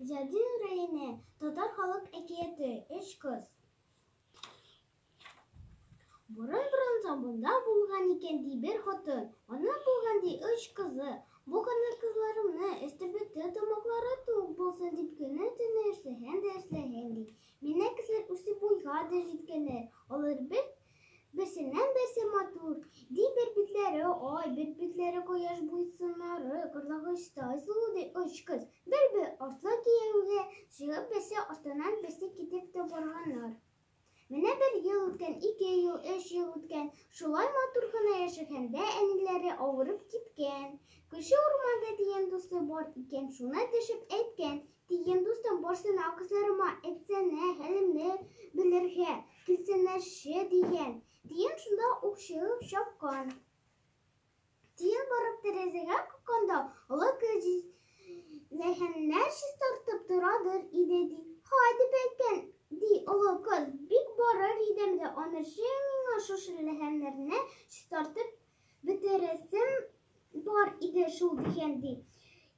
Зәдү рәене татар халык әкияте Өч кыз. Борын борындан бунда булган икән ди бер хатын. Ана булган ди өч кызы. Бу гына кызларымны өсте бетте тамаклары тук булсын дип көне төне эшләһән дә эшләһән ди. Миннән кесәр үсеп буйга да җиткәннәр. Алар бер Берсеннән-берсе матур, ди бер битләре ай, бер битләре кояш буйсыннары, кырлагычтай сулу ди өч кыз. Бер бер артлы кияүгә чыгып, берсе артыннан берсе китеп тә барганнар. Менә бер ел үткән, ике ел, өч ел үткән. Шулай матур гына яшәгәндә әниләре авырып киткән. Күрше урманда дигән дусты бар икән, шуны төшеп әйткән, Дигән дустым бар сынау кызларыма, әйтсәнә, хәлемне белергә, килсеннәрче дигән. Тиен шунда ук чыгып чапкан. Тиен барып тәрәзәгә какканда, олы кәҗис ләһәннәр чистартып торадыр иде ди. Хайди бәкән, ди олы кыз, бик барыр идем дә, анырчы миңа шушы ләһәннәрне чистартып бетерәсем бар иде шул дигән ди.